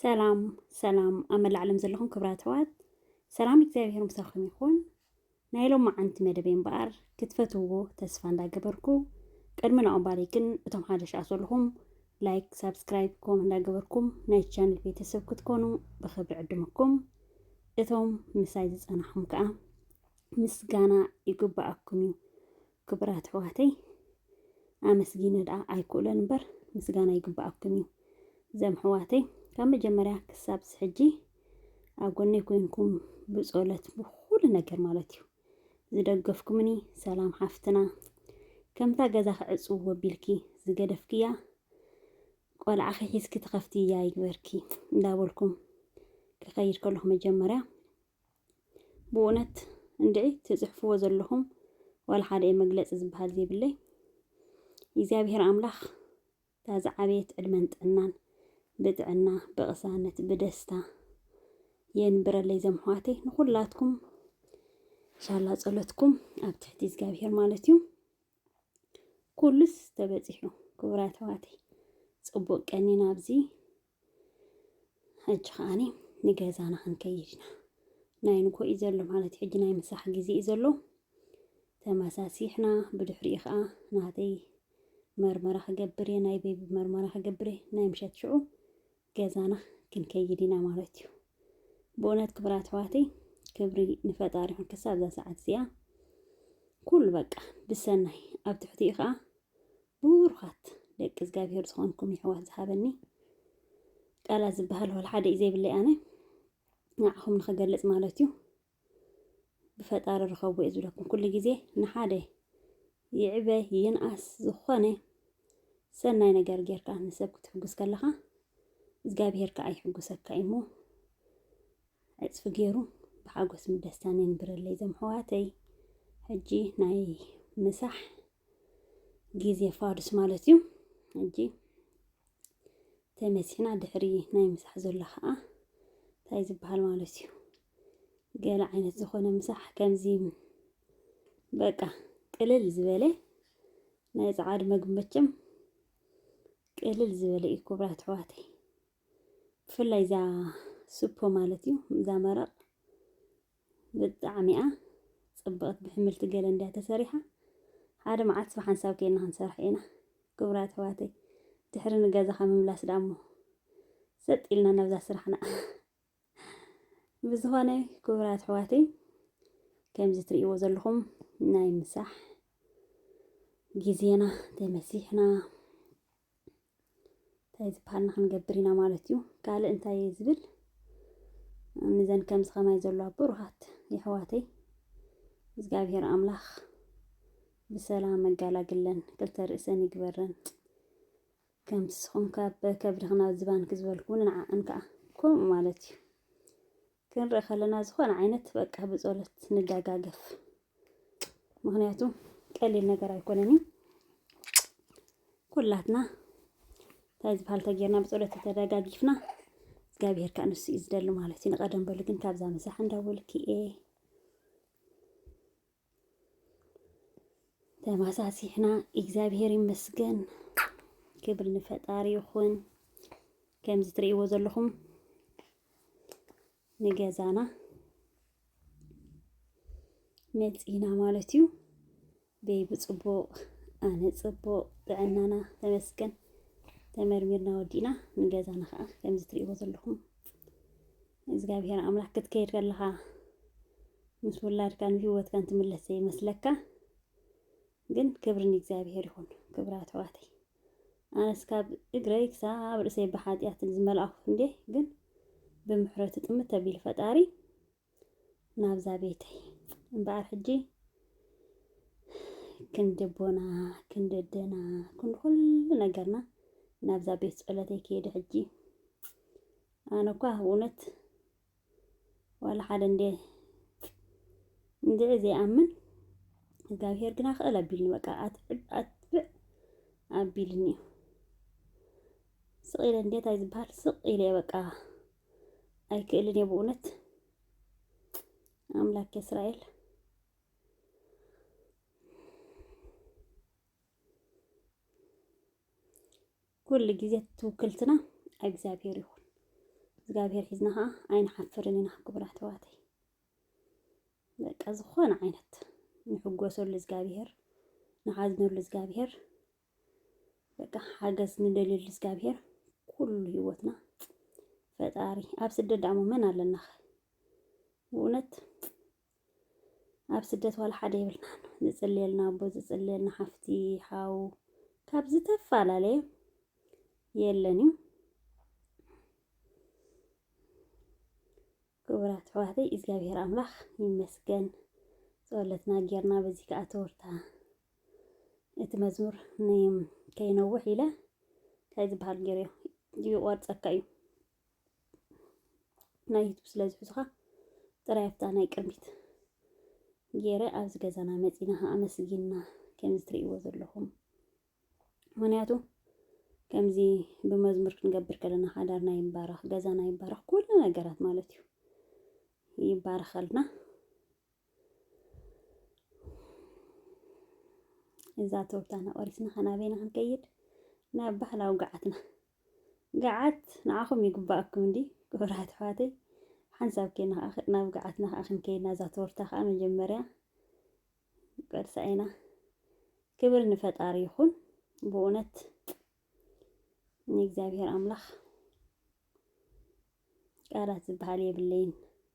ሰላም ሰላም ኣብ መላእ ዓለም ዘለኹም ክብራት ኣሕዋት ሰላም እግዚኣብሄር ምሳኹም ይኹን። ናይ ሎማዓንቲ መደበይ እምበኣር ክትፈትውዎ ተስፋ እንዳገበርኩ ቅድሚ ናኦም ባሪ ግን እቶም ሓደ ሻዕ ዘለኹም ላይክ ሳብስክራይብ ኮም እንዳገበርኩም ናይ ቻነል ቤተሰብ ክትኮኑ ብክብሪ ዕድመኩም እቶም ምሳይ ዝፀናሕኹም ከዓ ምስጋና ይግባኣኩም እዩ ክቡራት ኣሕዋተይ ኣመስጊነ ደኣ ኣይክእሎን እምበር ምስጋና ይግበኣኩም እዩ ዘም ኣሕዋተይ ካብ መጀመርያ ክሳብ ሕጂ ኣብ ጎነይ ኮይንኩም ብጸሎት ብኩሉ ነገር ማለት እዩ ዝደገፍኩምኒ ሰላም ሓፍትና ከምታ ገዛ ክዕጽዎ ቢልኪ ዝገደፍክያ ቆልዓኺ ሒዝኪ ትኸፍትያ ይግበርኪ እንዳበልኩም ክኸይድ ከለኹ መጀመርያ ብኡነት እንድዒ ትጽሕፍዎ ዘለኹም ዋላ ሓደ እየ መግለጺ ዝበሃል ዘይብለይ እግዚኣብሔር ኣምላኽ እታ ዝዓበየት ዕድመን ጥዕናን ብጥዕና ብቕሳነት ብደስታ የንብረለይ ዘምሕዋተይ ንኹላትኩም ሻላ ጸሎትኩም ኣብ ትሕቲ እግዚኣብሔር ማለት እዩ ኩሉስ ተበጺሑ ክቡራት ኣሕዋተይ ጽቡቅ ቀኒና ኣብዚ ሕጂ ከዓኒ ንገዛና ክንከይድ ኢና ናይ ንጎ እዩ ዘሎ ማለት ሕጂ ናይ ምሳሕ ግዜ እዩ ዘሎ ተመሳሲሕና ብድሕሪኡ ከዓ ናተይ መርመራ ክገብር እየ ናይ ቤቢ መርመራ ክገብር እየ ናይ ምሸት ሽዑ ገዛና ክንከይድ ኢና ማለት እዩ ብእውነት ክብራ ኣሕዋተይ ክብሪ ንፈጣሪ ይኹን ክሳብ እዛ ሰዓት እዚኣ ኩሉ በቃ ብሰናይ ኣብ ትሕቲኡ ከዓ ቡሩኻት ደቂ እዝጋብሄር ዝኾንኩም የሕዋት ዝሃበኒ ቃላት ዝበሃል ወላ ሓደ እዩ ዘይብለይ ኣነ ንዓኹም ንኽገልጽ ማለት እዩ ብፈጣሪ ርኸቡ እየ ዝብለኩም ኩሉ ግዜ ንሓደ ይዕበ ይንኣስ ዝኾነ ሰናይ ነገር ጌርካ ንሰብ ክትሕጉስ ከለኻ እግዚኣብሄር ከዓ ይሕጉሰካ እዩ እሞ ዕፅፊ ገይሩ ብሓጎስን ብደስታን የንብረለይ ዘም ሕዋተይ ሕጂ ናይ ምሳሕ ግዜ ፋዱስ ማለት እዩ ሕጂ ተመሲና ድሕሪ ናይ ምሳሕ ዘሎ ከዓ እንታይ ዝበሃል ማለት እዩ ገለ ዓይነት ዝኾነ ምሳሕ ከምዚ በቃ ቅልል ዝበለ ናይ ፀዓድ መግቢ መቸም ቅልል ዝበለ እዩ ክቡራት ኣሕዋተይ ብፍላይ እዛ ሱፖ ማለት እዩ እዛ መረቕ ብጣዕሚ'ያ ጽብቕቲ ብሕምልቲ ገለ እንድያ ተሰሪሓ ሓደ መዓልትስ ብሓንሳብ ኬድና ክንሰርሓ ኢና ክቡራት ኣሕዋተይ ድሕሪ ንገዛኻ ምምላስ ደኣሞ ሰጥ ኢልና ናብዛ ስራሕና ብዝኾነ ክቡራት ኣሕዋተይ ከምዚ ትርእይዎ ዘለኹም ናይ ምሳሕ ግዜና ተመሲሕና እንታይ ዝበሃልና ክንገብር ኢና ማለት እዩ ካልእ እንታይ እየ ዝብል ንዘን ከምዚ ከማይ ዘለዋ ብሩሃት የሕዋተይ እግዚኣብሔር ኣምላኽ ብሰላም መጋላግለን ክልተ ርእሰን ይግበረን ከም ስኹም ካብ ከብድኽና ዝባንኪ ዝበልኩ ንዓኣን ከዓ ከምኡ ማለት እዩ ክንርኢ ከለና ዝኾነ ዓይነት በቃ ብጸሎት ንደጋገፍ። ምክንያቱ ቀሊል ነገር ኣይኮነን እዩ። ኩላትና እንታይ ዝበሃል ተጌርና ብጸሎት ተደጋጊፍና እግዚኣብሄር ከዓ ንሱ እዩ ዝደሊ ማለት እዩ። ንቀደም በሉ ግን ካብዛ ምሳሕ እንዳበልኪ እየ ተመሳሲሕና እግዚኣብሔር ይመስገን ክብር ንፈጣሪ ይኹን ከምዚ ትርእይዎ ዘለኹም ንገዛና መፂና ማለት እዩ ቤቢ ፅቡቅ ኣነ ፅቡቅ ጥዕናና ተመስገን ተመርሚርና ወዲእና ንገዛና ከዓ ከምዚ ትርእይዎ ዘለኹም እግዚኣብሔር ኣምላክ ክትከይድ ከለኻ ምስ ውላድካን ህይወትካን ትምለስ ዘይመስለካ ግን ክብሪ ንእግዚኣብሔር ይኹን። ክብራት ኣሕዋተይ ኣነስ ካብ እግረይ ክሳብ ርእሰይ ብሓጢኣት ዝመልኣኹ እንዴ ግን ብምሕረቱ ጥምት ተቢሉ ፈጣሪ ናብዛ ቤተይ እምበኣር ሕጂ ክንዲ ኣቦና ክንዲ ኣደና ክንዲ ኩሉ ነገርና ናብዛ ቤት ጸሎተይ ከይደ ሕጂ ኣነ እኳ ብእውነት ዋላ ሓደ እንድየ እንድዒ ዘይኣምን እግዚኣብሄር ግና ክእል ኣቢልኒ በቃ ኣትብዕ ኣትብዕ ኣቢልኒ እዩ ስቕ ኢለ እንድየ እንታይ ዝበሃል ስቕ ኢለ እየ በቃ ኣይክእልን እየ ብእውነት ኣምላክ እስራኤል ኩሉ ግዜ ትውክልትና እግዚኣብሄር ይኹን። እግዚኣብሄር ሒዝና ከዓ ኣይንሓፍርን ኢና ክቡራት ኣሕዋተይ። በቃ ዝኾነ ዓይነት ንሕጎሰሉ እግዚኣብሄር ንሓዝነሉ እግዚኣብሄር በቃ ሓገዝ ንደልየሉ እግዚኣብሄር ኩሉ ህይወትና ፈጣሪ ኣብ ስደት ደሞ መን ኣለናኸ ብእውነት ኣብ ስደት ዋላ ሓደ የብልናን። ዝጽልየልና ኣቦ፣ ዝጽልየልና ሓፍቲ፣ ሓው ካብ ዝተፈላለየ የለን እዩ። ክቡራት ኣሕዋተይ እግዚኣብሔር ኣምላኽ ይመስገን ጸሎትና ጌርና በዚ ከዓ ተወርታ እቲ መዝሙር ከይነውሕ ኢለ እንታይ ዝበሃል ገይረዮ ይቆርፀካ እዩ ናይ ዩቱብ ስለ ዝሕዙኻ ጥራይ ኣብታ ናይ ቅድሚት ገይረ ኣብዚ ገዛና መፂና ከዓ ኣመስጊና ከምዚ ትርእይዎ ዘለኹም ምክንያቱ ከምዚ ብመዝሙር ክንገብር ከለና ሓዳርና ይባረኽ፣ ገዛና ይባረኽ፣ ኩሉ ነገራት ማለት እዩ ይባረኸልና። እዛ ተወብታና ቆሪስና ከናበይና ክንከይድ ናብ ባህላዊ ገዓትና ገዓት ንዓኹም ይግበኣኩም እንድዪ ክቡራት ኣሕዋተይ ሓንሳብ ኬና ከኣ ናብ ገዓትና ከኣ ክንከይድ ናዛ ቶርታ ከኣ መጀመርያ ቀርሳ ኢና ክብር ንፈጣሪ ይኹን ብእውነት ንእግዚኣብሔር ኣምላኽ ቃላት ዝበሃል የብለይን።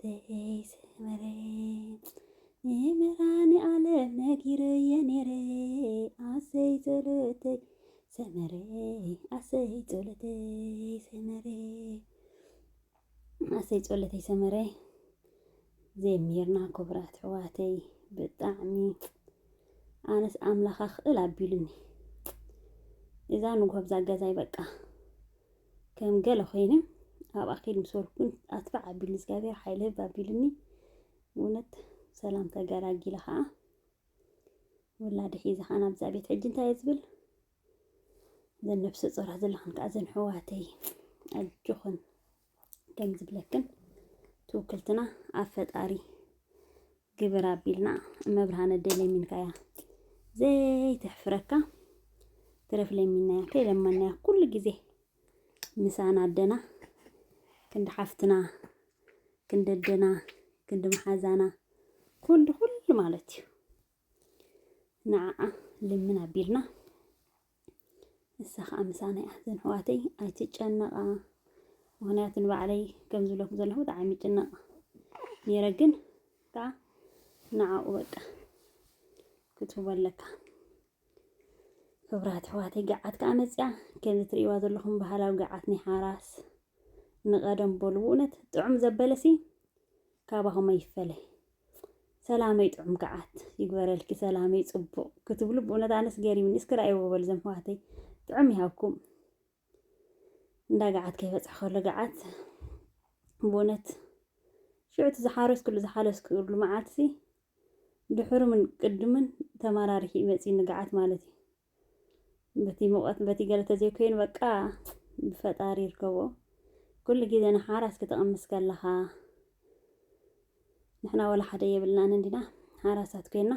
ተይ ስመረ ንመራኒ ዓለም ነጊረየ ነይረ ኣሰይ ጸሎተይ ሰመረ ኣሰይ ጸሎተይ ሰመረ ኣሰይ ጸሎተይ ሰመረ ዘሚርና ክቡራት ሕዋተይ ብጣዕሚ ኣነስ ኣምላኻ ክእል ኣቢሉኒ እዛ ንጉሆ ብዛ ገዛይ በቃ ከም ገለ ኮይኑ ኣብኣ ኪድ ምስ በልኩ ግን ኣትፋዕ ኣቢልኒ እግዚኣብሔር ሓይለ ህብ ኣቢልኒ እውነት ሰላም ተገላጊለ ከዓ ወላዲ ሒዘ ከዓ ናብዛ ቤት ሕጂ እንታይ እየ ዝብል እዘን ነብሰ ፆራት ዘለኽን ከዓ እዘን ሕዋተይ ኣጆኽን ከም ዝብለክን ትውክልትና ኣብ ፈጣሪ ግብር ኣቢልና እመብርሃነ ደይ ለሚንካ እያ ዘይተሕፍረካ ትረፍ ለሚናያ ከይለመናያ ኩሉ ግዜ ምሳና ኣደና ክንዲ ሓፍትና ክንዲ ኣደና ክንዲ መሓዛና ክንዲ ኩሉ ማለት እዩ ንዓኣ ልምን ኣቢልና ንሳ ከዓ ምሳና እያ ዘንሕዋተይ ኣይትጨነቃ ምክንያቱ ንባዕለይ ከም ዝብለኩ ዘለኹ ብጣዕሚ ጭነቅ ነይረ ግን ከዓ ንዓኡ በቃ ክትህቦ ኣለካ ክብራት ኣሕዋተይ ገዓት ከዓ መፅያ ከምዚ ትርእይዋ ዘለኹም ባህላዊ ገዓት ናይ ሓራስ ንቀደም በሉ እውነት ጥዑም ዘበለሲ ካባኹም ኣይፈለይ ሰላመይ ጥዑም ገዓት ይግበረልኪ ሰላመይ ጽቡቕ ክትብሉ ብእውነት ኣነስ ገሪምኒ እስኪ ራእይዎ በሉ ዘም ሕዋተይ ጥዑም ይሃብኩም እንዳ ገዓት ከይበፅሕ ከሎ ገዓት ብእውነት ሽዑቲ ዝሓረስክሉ ዝሓለስክሉ መዓልትሲ ድሕሩምን ቅድምን ተመራሪሒ መፅዩ ንገዓት ማለት እዩ በቲ ሙቐት በቲ ገለ ተዘይኮይኑ በቃ ብፈጣሪ ይርከቦ ኩሉ ግዜ ንሓራስ ክትቕምስ ከለኻ ንሕና ወላ ሓደ የብልናን እንዲና ሓራሳት ኮይና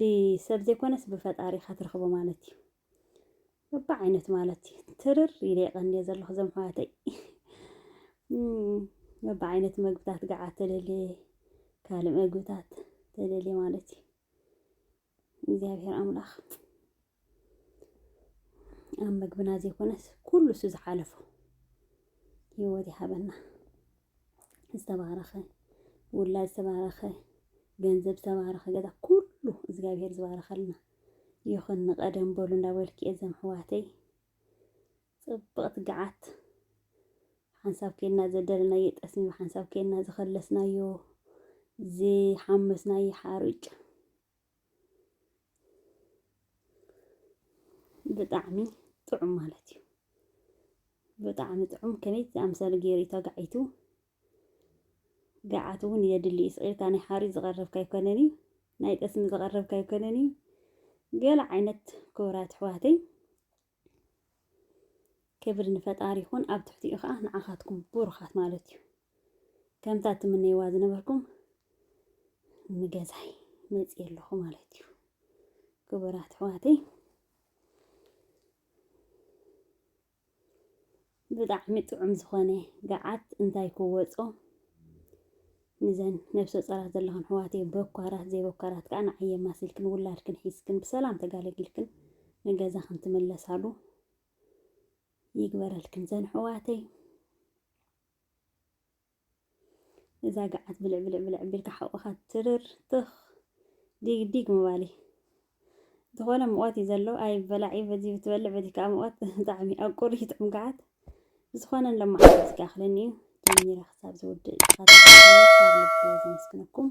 ብሰብ ዘይኮነስ ብፈጣሪ ኢኻ ትረኽቦ ማለት እዩ በብዓይነቱ ማለት እዩ ትርር ኢለ የቐንየ ዘለኹ እዞም ኣሕዋተይ በብዓይነት መግብታት ገዓ ተደልየ ካልእ መግብታት ተደልየ ማለት እዩ እግዚኣብሔር ኣምላኽ ኣብ መግብና ዘይኮነስ ኩሉ እሱ ዝሓለፎ ህይወት ይሃበና። ዝተባረኸ ውላድ ዝተባረኸ ገንዘብ ዝተባረኸ ገዛ ኩሉ እግዚኣብሔር ዝባረኸልና ይኹን። ንቀደም በሉ እንዳበልኪ እዘም ሕዋተይ ጽብቕቲ ግዓት! ሓንሳብ ኬድና ዘደለናዮ ጠስሚ ብሓንሳብ ኬድና ዝኸለስናዮ ዝሓመስናዮ ሓሩጭ ብጣዕሚ ጥዑም ማለት እዩ። ብጣዕሚ ጥዑም ከመይ ዝኣምሰለ ገይሩ እዩ ተጋዒቱ። ገዓት እውን የድሊ እዩ። ስቕ ኢልካ ናይ ሓሩጭ ዝቐረብካ ኣይኮነን እዩ፣ ናይ ጠስሚ ዝቐረብካ ኣይኮነን እዩ። ገለ ዓይነት ክቡራት ኣሕዋተይ ክብሪ ንፈጣሪ ይኹን ኣብ ትሕቲኡ ከዓ ንዓኻትኩም ብሩኻት ማለት እዩ ከምታ ትምነይዋ ዝነበርኩም ንገዛይ መፅእ ኣለኹ ማለት እዩ ክቡራት ኣሕዋተይ ብጣዕሚ ጥዑም ዝኮነ ጋዓት እንታይ ክወጾ ንዘን ነብሰ ጾራት ዘለክን ኣሕዋተይ በኳራት ዘይበኳራት ከኣ ንዓይ የማሲልክን ውላድክን ሒዝክን ብሰላም ተጋለጊልክን ንገዛክን ትምለሳሉ ይግበረልክን ዘን ኣሕዋተይ። እዛ ገዓት ብልዕ ብልዕ ብልዕ ቢልካ ሓቁኻ ትርር ትኽ ዲግ ዲግ ምባሊ ዝኾነ ሙቐት እዩ ዘሎ ኣይበላዕ እዩ በዚ ብትበልዕ በዚ ከዓ ሙቐት ብጣዕሚ ኣብ ቁሪ ይጥዕም ገዓት ብዝኾነ ንሎማዓንቲ ዝከኣኽለኒ እዩ ጀሚረ ክሳብ ዝውድእ ካብ ልቢ ዘመስግነኩም